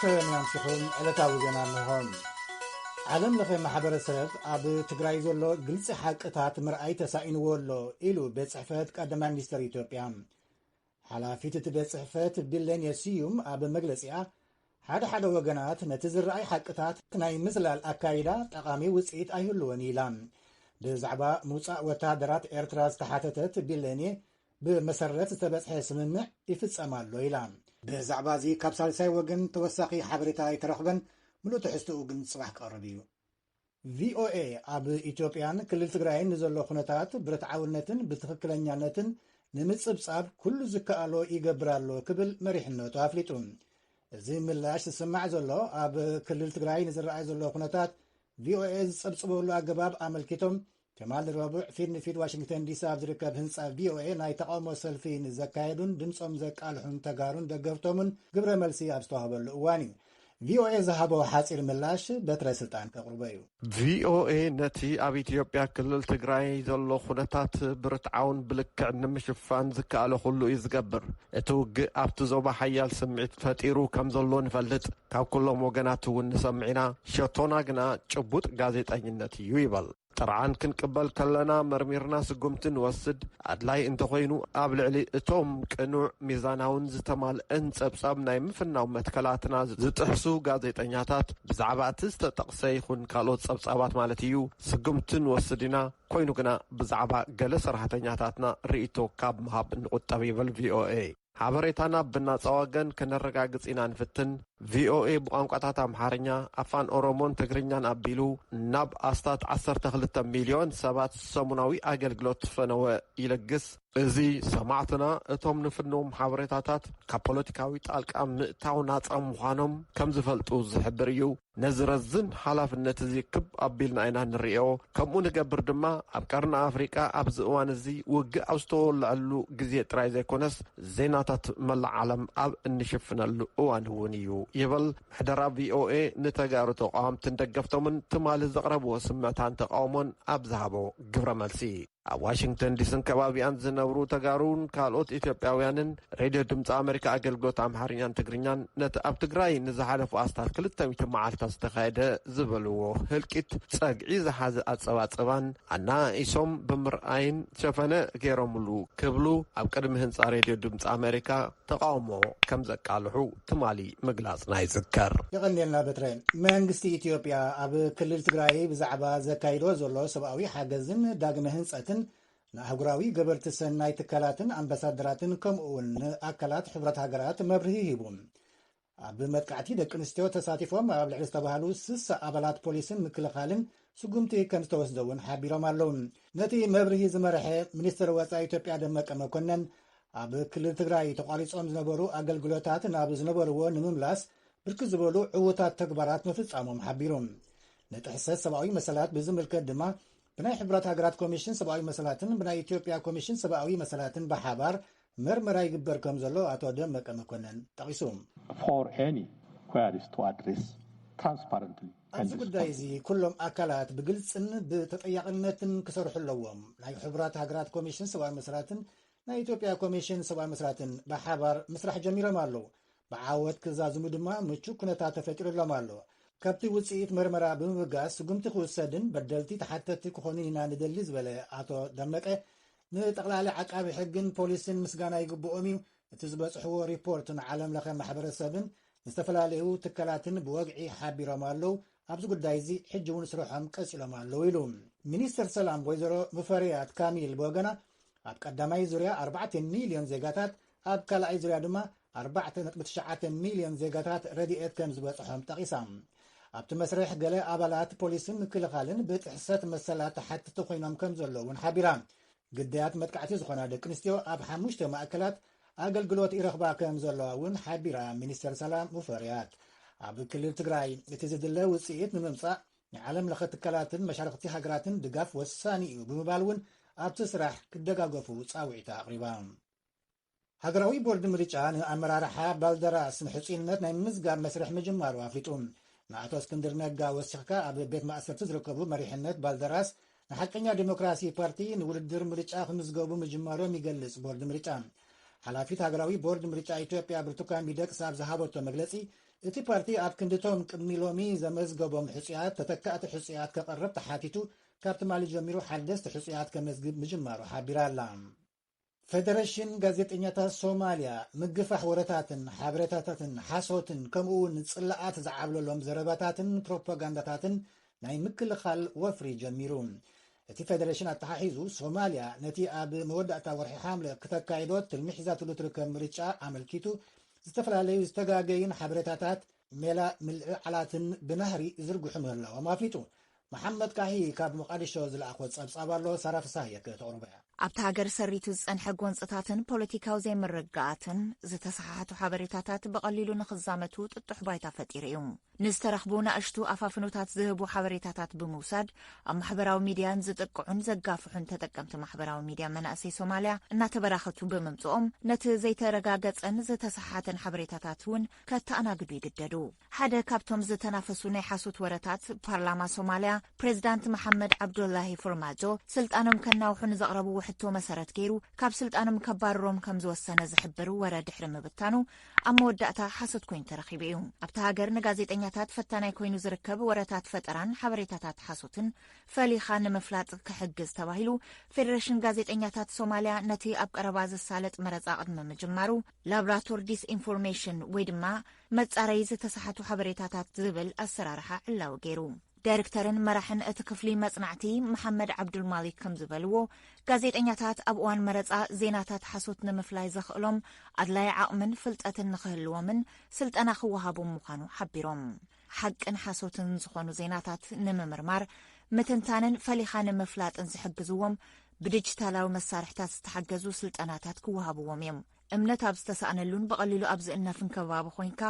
ሰላም ኣምስኹም ዕለታዊ ዜና እንሆም ዓለም ለኸ ማሕበረሰብ ኣብ ትግራይ ዘሎ ግልፂ ሓቅታት ምርኣይ ተሳኢንዎ ኣሎ ኢሉ ቤት ፅሕፈት ቀዳማይ ሚኒስትር ኢትዮጵያ ሓላፊት እቲ ቤት ፅሕፈት ቢለኔ ስዩም ኣብ መግለፂኣ ሓደ ሓደ ወገናት ነቲ ዝረኣይ ሓቅታት ናይ ምዝላል ኣካይዳ ጠቓሚ ውጽኢት ኣይህልዎን ኢላ። ብዛዕባ ምውጻእ ወተሃደራት ኤርትራ ዝተሓተተት ቢሌኒ፣ ብመሰረት ዝተበጽሐ ስምምዕ ይፍጸም ኣሎ ኢላ። ብዛዕባ እዚ ካብ ሳልሳይ ወገን ተወሳኺ ሓበሬታ ኣይተረኽበን፣ ምሉእ ትሕዝቶኡ ግን ጽባሕ ክቐርብ እዩ። ቪኦኤ ኣብ ኢትዮጵያን ክልል ትግራይን ንዘሎ ኩነታት ብርትዓውነትን ብትኽክለኛነትን ንምፅብፃብ ኩሉ ዝከኣሎ ይገብር ኣሎ ክብል መሪሕነቱ ኣፍሊጡ። እዚ ምላሽ ዝስማዕ ዘሎ ኣብ ክልል ትግራይ ንዝረኣይ ዘሎ ኩነታት ቪኦኤ ዝፀብፅበሉ ኣገባብ ኣመልኪቶም ትማል ረቡዕ ፊት ንፊት ዋሽንግተን ዲሲ ኣብ ዝርከብ ህንፃ ቪኦኤ ናይ ተቓውሞ ሰልፊ ንዘካየዱን ድምፆም ዘቃልሑን ተጋሩን ደገፍቶምን ግብረ መልሲ ኣብ ዝተዋህበሉ እዋን እዩ ቪኦኤ ዝሃቦ ሓፂር ምላሽ በትረ ስልጣን ከቕርቦ እዩ። ቪኦኤ ነቲ ኣብ ኢትዮጵያ ክልል ትግራይ ዘሎ ኩነታት ብርትዓውን ብልክዕ ንምሽፋን ዝከኣሎ ኩሉ እዩ ዝገብር። እቲ ውግእ ኣብቲ ዞባ ሓያል ስምዒት ፈጢሩ ከምዘሎ ንፈልጥ። ካብ ኩሎም ወገናት እውን ንሰምዕ ኢና፣ ሸቶና ግና ጭቡጥ ጋዜጠኝነት እዩ ይበል። ጥርዓን ክንቅበል ከለና መርሚርና ስጉምቲ ንወስድ፣ ኣድላይ እንተኾይኑ ኣብ ልዕሊ እቶም ቅኑዕ፣ ሚዛናውን ዝተማልእን ጸብጻብ ናይ ምፍናው መትከላትና ዝጥሕሱ ጋዜጠኛታት ብዛዕባ እቲ ዝተጠቕሰ ይኹን ካልኦት ጸብጻባት ማለት እዩ ስጉምቲ ንወስድ ኢና፣ ኮይኑ ግና ብዛዕባ ገለ ሰራሕተኛታትና ርእይቶ ካብ ምሃብ ንቑጠብ ይብል ቪኦኤ። ሓበሬታና ብናጻ ወገን ከነረጋግጽ ኢና ንፍትን። ቪኦኤ ብቋንቋታት ኣምሓርኛ፣ ኣፋን ኦሮሞን ትግርኛን ኣቢሉ ናብ ኣስታት ዓሰርተ ክልተ ሚልዮን ሰባት ሰሙናዊ ኣገልግሎት ፈነወ ይልግስ። እዚ ሰማዕትና እቶም ንፍንዎም ሓበሬታታት ካብ ፖለቲካዊ ጣልቃ ምእታው ናጻ ምዃኖም ከም ዝፈልጡ ዝሕብር እዩ። ነዚ ረዚን ሓላፍነት እዚ ክብ ኣቢልና ኢና ንርእዮ። ከምኡ ንገብር ድማ ኣብ ቀርኒ ኣፍሪቃ ኣብዚ እዋን እዚ ውግእ ኣብ ዝተወልዐሉ ግዜ ጥራይ ዘይኮነስ ዜናታት መላእ ዓለም ኣብ እንሽፍነሉ እዋን እውን እዩ ይብል ምሕደራ ቪኦኤ ንተጋሩ ተቓወምትን ደገፍቶምን ትማሊ ዘቕረብዎ ስምዕታን ተቓውሞን ኣብ ዝሃቦ ግብረ መልሲ። ኣብ ዋሽንግተን ዲስን ከባቢኣን ዝነብሩ ተጋሩን ካልኦት ኢትዮጵያውያንን ሬድዮ ድምፂ ኣመሪካ ኣገልግሎት ኣምሓርኛን ትግርኛን ነቲ ኣብ ትግራይ ንዝሓለፉ ኣስታት ክልተ ሚእቲ መዓልትታት ዝተኻየደ ዝበልዎ ህልቂት ፀግዒ ዝሓዘ ኣፀባፅባን ኣነኣኢሶም ብምርኣይን ሸፈነ ገይሮምሉ ክብሉ ኣብ ቅድሚ ህንፃ ሬድዮ ድምፂ ኣመሪካ ተቓውሞ ከም ዘቃልሑ ትማሊ ምግላጽና ይዝከር። የቐንየልና በትረ። መንግስቲ ኢትዮጵያ ኣብ ክልል ትግራይ ብዛዕባ ዘካይዶ ዘሎ ሰብኣዊ ሓገዝን ዳግመ ህንፀትን ንኣህጉራዊ ገበርቲ ሰናይ ትካላትን ኣምባሳደራትን ከምኡ'ውን ንኣካላት ሕብረት ሃገራት መብርሂ ሂቡ። ኣብ መጥቃዕቲ ደቂ ኣንስትዮ ተሳቲፎም ኣብ ልዕሊ ዝተባሃሉ ስሳ ኣባላት ፖሊስን ምክልኻልን ስጉምቲ ከምዝተወስደ እውን ሓቢሮም ኣለው። ነቲ መብርሂ ዝመርሐ ሚኒስትር ወፃኢ ኢትዮጵያ ደመቀ መኮነን ኣብ ክልል ትግራይ ተቋሪፆም ዝነበሩ ኣገልግሎታት ናብ ዝነበርዎ ንምምላስ ብርክት ዝበሉ ዕውታት ተግባራት ምፍፃሞም ሓቢሩ። ንጥሕሰት ሰብኣዊ መሰላት ብዝምልከት ድማ ብናይ ሕቡራት ሃገራት ኮሚሽን ሰብኣዊ መሰላትን ብናይ ኢትዮጵያ ኮሚሽን ሰብኣዊ መሰላትን ብሓባር መርመራ ይግበር ከምዘሎ ኣቶ ደመቀ መኮነን ጠቒሱ። ፎር ኤኒ ኲያሪስ ቱ ኣድሬስ ትራንስፓረንትሊ ኣብዚ ኤንድ ጉዳይ እዚ ሪስፖንስብሊ። ኩሎም ኣካላት ብግልፅን ብተጠያቕነትን ክሰርሑ ኣለዎም። ናይ ሕቡራት ሃገራት ኮሚሽን ሰብኣዊ መሰላትን ናይ ኢትዮጵያ ኮሚሽን ሰብኣዊ መሰላትን ብሓባር ምስራሕ ጀሚሮም ኣለዉ። ብዓወት ክዛዝሙ ድማ ምቹእ ኩነታት ተፈጢሩሎም ኣሎ። ካብቲ ውፅኢት መርመራ ብምብጋስ ስጉምቲ ክውሰድን በደልቲ ተሓተትቲ ክኾኑን ኢና ንደሊ ዝበለ ኣቶ ደመቀ፣ ንጠቕላሊ ዓቃቢ ሕግን ፖሊስን ምስጋና ይግብኦም እዩ፣ እቲ ዝበጽሕዎ ሪፖርት ንዓለም ለኸ ማሕበረሰብን ዝተፈላለዩ ትካላትን ብወግዒ ሓቢሮም ኣለዉ፣ ኣብዚ ጉዳይ እዚ ሕጂ እውን ስርሖም ቀጺሎም ኣለዉ ኢሉ። ሚኒስትር ሰላም ወይዘሮ ሙፈሪያት ካሚል ብወገና ኣብ ቀዳማይ ዙርያ ኣርባዕተ ሚልዮን ዜጋታት ኣብ ካልኣይ ዙርያ ድማ ኣርባዕተ ነጥቢ ትሽዓተ ሚልዮን ዜጋታት ረድኤት ከም ዝበጽሖም ጠቒሳ። ኣብቲ መስርሕ ገለ ኣባላት ፖሊስን ምክልኻልን ብጥሕሰት መሰላት ተሓትቲ ኮይኖም ከም ዘለዉ እውን ሓቢራ። ግዳያት መጥቃዕቲ ዝኾና ደቂ ኣንስትዮ ኣብ ሓሙሽተ ማእከላት ኣገልግሎት ይረኽባ ከም ዘለዋ እውን ሓቢራ ሚኒስተር ሰላም ሙፈሪያት። ኣብ ክልል ትግራይ እቲ ዝድለ ውጽኢት ንምምጻእ ንዓለም ለኸ ትካላትን መሻርኽቲ ሃገራትን ድጋፍ ወሳኒ እዩ ብምባል እውን ኣብቲ ስራሕ ክደጋገፉ ጻውዒታ ኣቕሪባ። ሃገራዊ ቦርድ ምርጫ ንኣመራርሓ ባልደራስ ንሕጹይነት ናይ ምምዝጋብ መስርሕ ምጅማሩ ኣፍሊጡ። ንኣቶ እስክንድር ነጋ ወሲኽካ ኣብ ቤት ማእሰርቲ ዝርከቡ መሪሕነት ባልደራስ ንሓቀኛ ዴሞክራሲ ፓርቲ ንውድድር ምርጫ ክምዝገቡ ምጅማሮም ይገልጽ ቦርድ ምርጫ። ሓላፊት ሃገራዊ ቦርድ ምርጫ ኢትዮጵያ ብርቱካን ሚደቅሳ ኣብ ዝሃበቶ መግለጺ እቲ ፓርቲ ኣብ ክንዲቶም ቅድሚ ሎሚ ዘመዝገቦም ሕጹያት ተተካእቲ ሕጹያት ከቕርብ ተሓቲቱ ካብ ትማሊ ጀሚሩ ሓደስቲ ሕጹያት ከመዝግብ ምጅማሩ ሓቢራ'ላ። ፈደረሽን ጋዜጠኛታት ሶማልያ ምግፋሕ ወረታትን ሓበሬታታትን ሓሶትን ከምኡ'ውን ጽላኣት ዝዓብለሎም ዘረባታትን ፕሮፓጋንዳታትን ናይ ምክልኻል ወፍሪ ጀሚሩ። እቲ ፈደረሽን ኣተሓሒዙ ሶማልያ ነቲ ኣብ መወዳእታ ወርሒ ሓምለ ክተካይዶ ትልሚ ሒዛትሉ ትርከብ ምርጫ ኣመልኪቱ ዝተፈላለዩ ዝተጋገዩን ሓበሬታታት ሜላ ምልዕዓላትን ብናህሪ ዝርግሑ ምህላዎም ኣፍሊጡ። መሓመድ ካሂ ካብ ሞቓዲሾ ዝለኣኾ ጸብጻብ ኣሎ፣ ሳራ ፍስሃየ ከተቕርቦ እያ። ኣብታ ሃገር ሰሪቱ ዝጸንሐ ጎንጽታትን ፖለቲካዊ ዘይምርግጋኣትን፣ ዝተሰሓሓቱ ሓበሬታታት ብቐሊሉ ንኽዛመቱ ጥጡሕ ባይታ ፈጢሩ እዩ። ንዝተረኽቡ ናእሽቱ ኣፋፍኖታት ዝህቡ ሓበሬታታት ብምውሳድ፣ ኣብ ማሕበራዊ ሚድያ ንዝጥቅዑን ዘጋፍሑን ተጠቀምቲ ማሕበራዊ ሚድያ መናእሰይ ሶማልያ እናተበራኸቱ ብምምጽኦም፣ ነቲ ዘይተረጋገጸን ዝተሰሓሓተን ሓበሬታታት እውን ከተኣናግዱ ይግደዱ። ሓደ ካብቶም ዝተናፈሱ ናይ ሓሶት ወረታት፣ ፓርላማ ሶማልያ፣ ፕሬዚዳንት መሓመድ ዓብዶላሂ ፎርማጆ ስልጣኖም ከናውሑ ንዘቕረብዎ ሕቶ መሰረት ገይሩ ካብ ስልጣኖም ከባርሮም ከምዝወሰነ ዝሕብር ወረ ድሕሪ ምብታኑ ኣብ መወዳእታ ሓሶት ኮይኑ ተረኺቡ እዩ። ኣብታ ሃገር ንጋዜጠኛታት ፈታናይ ኮይኑ ዝርከብ ወረታት ፈጠራን ሓበሬታታት ሓሶትን ፈሊኻ ንምፍላጥ ክሕግዝ ተባሂሉ ፌደሬሽን ጋዜጠኛታት ሶማልያ ነቲ ኣብ ቀረባ ዝሳለጥ መረፃ ቅድሚ ምጅማሩ ላብራቶር ዲስኢንፎርሜሽን ወይ ድማ መጻረዪ ዝተሳሓቱ ሓበሬታታት ዝብል ኣሰራርሓ ዕላዊ ገይሩ። ዳይርክተርን መራሕን እቲ ክፍሊ መጽናዕቲ መሓመድ ዓብዱልማሊክ ከም ዝበልዎ፣ ጋዜጠኛታት ኣብ እዋን መረጻ ዜናታት ሓሶት ንምፍላይ ዘኽእሎም ኣድላዪ ዓቕምን ፍልጠትን ንኽህልዎምን ስልጠና ክወሃቦም ምዃኑ ሓቢሮም። ሓቅን ሓሶትን ዝኾኑ ዜናታት ንምምርማር፣ ምትንታንን ፈሊኻ ንምፍላጥን ዝሕግዝዎም ብዲጂታላዊ መሳርሕታት ዝተሓገዙ ስልጠናታት ክወሃብዎም እዮም። እምነት ኣብ ዝተሳእነሉን ብቐሊሉ ኣብ ዝእነፍን ከባቢ ኮይንካ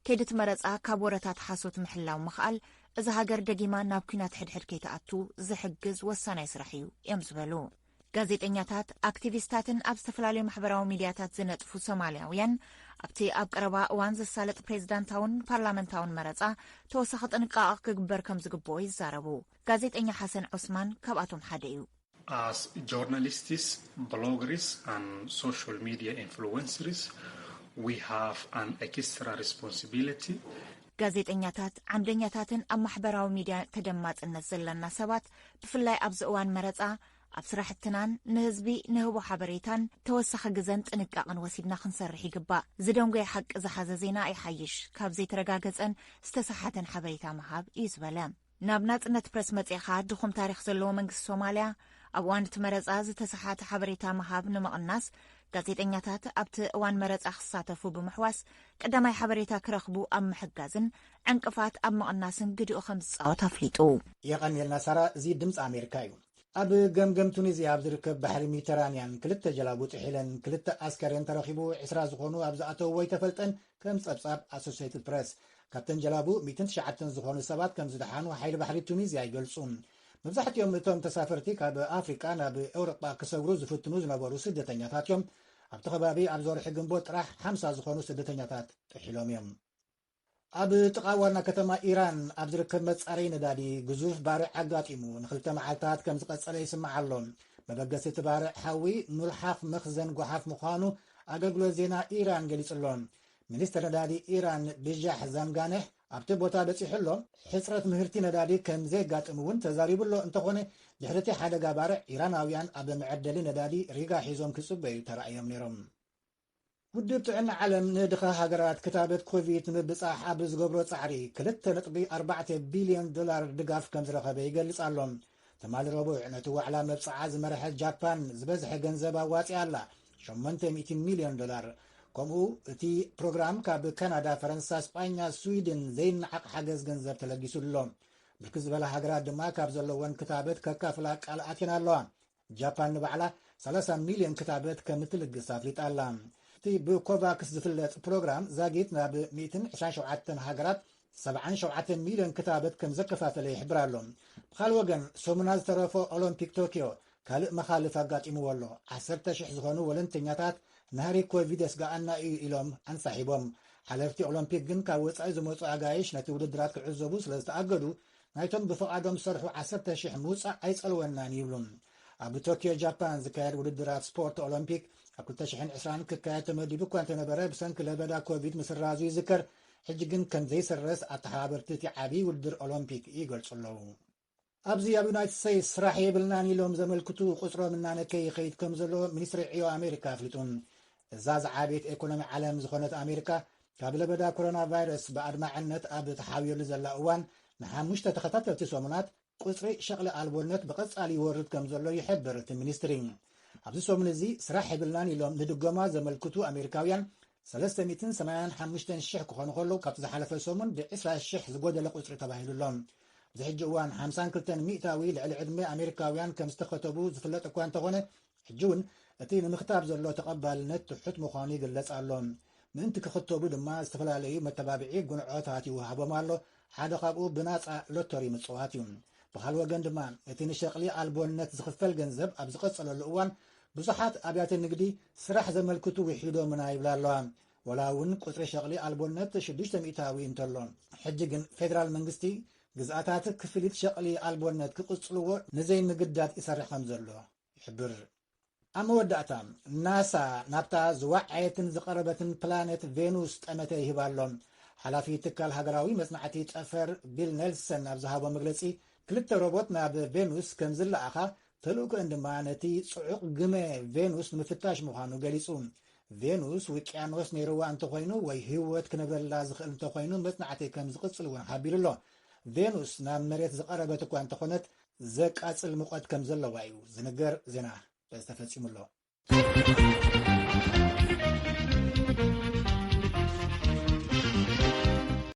ከይዲ እቲ መረፃ ካብ ወረታት ሓሶት ምሕላው ምኽኣል እዛ ሃገር ደጊማ ናብ ኩናት ሕድሕድ ከይትኣቱ ዝሕግዝ ወሳናይ ስራሕ እዩ እዮም ዝበሉ። ጋዜጠኛታት፣ ኣክቲቪስታትን ኣብ ዝተፈላለዩ ማሕበራዊ ሚድያታት ዝነጥፉ ሶማልያውያን ኣብቲ ኣብ ቀረባ እዋን ዝሳለጥ ፕሬዚዳንታውን ፓርላመንታውን መረፃ ተወሳኺ ጥንቃቐ ክግበር ከም ዝግብኦ ይዛረቡ። ጋዜጠኛ ሓሰን ዖስማን ካብኣቶም ሓደ እዩ። As journalists, bloggers and social media influencers, we have an extra responsibility. ጋዜጠኛታት፣ ዓምደኛታትን ኣብ ማሕበራዊ ሚድያ ተደማፅነት ዘለና ሰባት ብፍላይ ኣብዚ እዋን መረፃ ኣብ ስራሕትናን ንህዝቢ ንህቦ ሓበሬታን ተወሳኺ ግዘን ጥንቃቕን ወሲድና ክንሰርሕ ይግባእ። ዝደንጎየ ሓቂ ዝሓዘ ዜና ይሓይሽ ካብ ዘይተረጋገፀን ዝተሰሓተን ሓበሬታ ምሃብ እዩ ዝበለ። ናብ ናጽነት ፕረስ መጺእኻ ድኹም ታሪኽ ዘለዎ መንግስቲ ሶማልያ ኣብ እዋን እቲ መረጻ ዝተሰሓተ ሓበሬታ ምሃብ ንምቕናስ ጋዜጠኛታት ኣብቲ እዋን መረጻ ክሳተፉ ብምሕዋስ ቀዳማይ ሓበሬታ ክረኽቡ ኣብ ምሕጋዝን ዕንቅፋት ኣብ ምቕናስን ግድኡ ከም ዝጻወት ኣፍሊጡ። የቐንየልና ሳራ እዚ ድምጺ ኣሜሪካ እዩ። ኣብ ገምገም ቱኒዝያ ኣብ ዝርከብ ባሕሪ ሚተራንያን ክልተ ጀላቡ ጥሒለን ክልተ ኣስከሬን ተረኺቡ ዕስራ ዝኾኑ ኣብ ዝኣተውዎ ኣይተፈልጠን ከም ጸብጻብ ኣሶሴይትድ ፕረስ፣ ካብተን ጀላቡ ሚእትን ትሽዓተን ዝኾኑ ሰባት ከም ዝደሓኑ ሓይሊ ባሕሪ ቱኒዝያ ይገልጹ። መብዛሕትኦም እቶም ተሳፈርቲ ካብ ኣፍሪቃ ናብ ኤውሮጳ ክሰግሩ ዝፍትኑ ዝነበሩ ስደተኛታት እዮም። ኣብቲ ከባቢ ኣብዚ ወርሒ ግንቦት ጥራሕ ሓምሳ ዝኾኑ ስደተኛታት ጥሒሎም እዮም። ኣብ ጥቓ ዋና ከተማ ኢራን ኣብ ዝርከብ መጻረዪ ነዳዲ ግዙፍ ባርዕ ኣጋጢሙ ንክልተ መዓልታት ከም ዝቐጸለ ይስማዕ ኣሎ። መበገሲ እቲ ባርዕ ሓዊ ሙልሓፍ መኽዘን ጓሓፍ ምዃኑ ኣገልግሎት ዜና ኢራን ገሊጹ'ሎ። ሚኒስተር ነዳዲ ኢራን ብዣሕ ዛምጋነህ ኣብቲ ቦታ በጺሑ'ሎ። ሕጽረት ምህርቲ ነዳዲ ከም ዜጋጥም'ውን ተዛሪቡ'ሎ። እንተዀነ ድሕሪ'ቲ ሓደጋ ባርዕ፣ ኢራናውያን ኣብ መዐደሊ ነዳዲ ሪጋ ሒዞም ክጽበዩ ተራእዮም ነይሮም። ውድብ ጥዕና ዓለም ንድኻ ሃገራት ክታበት ኮቪድ ንምብጻሕ ኣብ ዝገብሮ ጻዕሪ ክልተ ነጥቢ ኣርባዕተ ቢልዮን ዶላር ድጋፍ ከም ዝረኸበ ይገልጽ ኣሎ። ትማሊ ረቡዕ ነቲ ዋዕላ መብጽዓ ዝመርሐት ጃፓን ዝበዝሐ ገንዘብ ኣዋጺኣ ኣላ፣ ሸሞንተ ሚእቲ ሚልዮን ዶላር። ከምኡ እቲ ፕሮግራም ካብ ካናዳ፣ ፈረንሳ፣ ስጳኛ፣ ስዊድን ዘይነዓቕ ሓገዝ ገንዘብ ተለጊሱ ኣሎ። ብርክት ዝበላ ሃገራት ድማ ካብ ዘለወን ክታበት ከካፍላ ቃል ኣትየን ኣለዋ። ጃፓን ንባዕላ 30 ሚልዮን ክታበት ከም እትልግስ ኣፍሊጣ ኣላ። እቲ ብኮቫክስ ዝፍለጥ ፕሮግራም ዛጊት ናብ 127 ሃገራት ሰብዓን ሸውዓተን ሚልዮን ክታበት ከምዘከፋፈለ ይሕብር ኣሎ። ብኻልእ ወገን ሰሙና ዝተረፎ ኦሎምፒክ ቶክዮ ካልእ መኻልፍ ኣጋጢምዎ ኣሎ። ዓሰርተ ሽሕ ዝኾኑ ወለንተኛታት ናህሪ ኮቪድ የስግኣና ኢዩ ኢሎም ኣንሳሒቦም። ሓለፍቲ ኦሎምፒክ ግን ካብ ወጻኢ ዝመጹ ኣጋይሽ ነቲ ውድድራት ክዕዘቡ ስለዝተኣገዱ ናይቶም ብፍቓዶም ዝሰርሑ ዓሰርተ ሽሕ ምውጻእ ኣይጸልወናን ይብሉ። ኣብ ቶክዮ ጃፓን ዝካየድ ውድድራት ስፖርት ኦሎምፒክ ኣብ ክልተ ሽሕን ዕስራን ክካየድ ተመዲቡ እኳ እንተነበረ ብሰንኪ ለበዳ ኮቪድ ምስራዙ ይዝከር። ሕጂ ግን ከም ዘይስረዝ ኣተሓባበርቲ እቲ ዓብዪ ውድድር ኦሎምፒክ ይገልጹ ኣለዉ። ኣብዚ ኣብ ዩናይትድ ስቴትስ ስራሕ የብልናን ኢሎም ዘመልክቱ ቁጽሮም እናነከየ ይኸይድ ከም ዘሎ ሚኒስትሪ ዕዮ ኣሜሪካ ኣፍሊጡ። እዛ ዝዓበየት ኤኮኖሚ ዓለም ዝኾነት ኣሜሪካ ካብ ለበዳ ኮሮና ቫይረስ ብኣድማዕነት ኣብ ተሓብየሉ ዘላ እዋን ንሓሙሽተ ተኸታተልቲ ሰሙናት ቁጽሪ ሸቕሊ ኣልቦነት ብቐጻሊ ይወርድ ከም ዘሎ ይሕብር እቲ ሚኒስትሪ። ኣብዚ ሰሙን እዚ ስራሕ የብልናን ኢሎም ንድጎማ ዘመልክቱ ኣሜሪካውያን ሰለስተ ሚእትን ሰማንያን ሓሙሽተን ሽሕ ክኾኑ ከለዉ ካብቲ ዝሓለፈ ሰሙን ብዕስራ ሽሕ ዝጎደለ ቁጽሪ ተባሂሉ ኣሎ። ኣብዚ ሕጂ እዋን ሓምሳን ክልተን ሚእታዊ ልዕሊ ዕድመ ኣሜሪካውያን ከም ዝተኸተቡ ዝፍለጥ እኳ እንተኾነ ሕጂ እውን እቲ ንምኽታብ ዘሎ ተቐባልነት ትሑት ምዃኑ ይግለጽ ኣሎ። ምእንቲ ክኽተቡ ድማ ዝተፈላለዩ መተባብዒ ጉንዖታት ይወሃቦም ኣሎ፣ ሓደ ካብኡ ብናጻ ሎቶሪ ምጽዋት እዩ። ብኻልእ ወገን ድማ እቲ ንሸቕሊ ኣልቦነት ዝኽፈል ገንዘብ ኣብ ዝቐጸለሉ እዋን ብዙሓት ኣብያተ ንግዲ ስራሕ ዘመልክቱ ውሒዶምና ይብላ ኣለዋ። ወላ እውን ቁጽሪ ሸቕሊ ኣልቦነት ሽዱሽተ ሚእታዊ እንተሎ፣ ሕጂ ግን ፌደራል መንግስቲ ግዝኣታት ክፍሊት ሸቕሊ ኣልቦነት ክቕጽልዎ ንዘይምግዳድ ይሰርሕ ከምዘሎ ይሕብር። ኣብ መወዳእታ፣ ናሳ ናብታ ዝወዓየትን ዝቐረበትን ፕላነት ቬኑስ ጠመተ ይህብ ኣሎ። ሓላፊ ትካል ሃገራዊ መጽናዕቲ ጠፈር ቢል ኔልሰን ኣብ ዝሃቦ መግለጺ፣ ክልተ ሮቦት ናብ ቬኑስ ከም ዝለኣኻ፣ ተልእኮኤን ድማ ነቲ ጽዑቕ ግመ ቬኑስ ንምፍታሽ ምዃኑ ገሊጹ። ቬኑስ ውቅያኖስ ነይርዋ እንተኾይኑ ወይ ህይወት ክነብረላ ዝኽእል እንተኾይኑ መጽናዕቲ ከም ዝቕጽል'ውን ሓቢሩ'ሎ። ቬኑስ ናብ መሬት ዝቐረበት እኳ እንተኾነት፣ ዘቃጽል ሙቐት ከም ዘለዋ እዩ ዝንገር፣ ዜና ተፈጺሙ ኣሎ።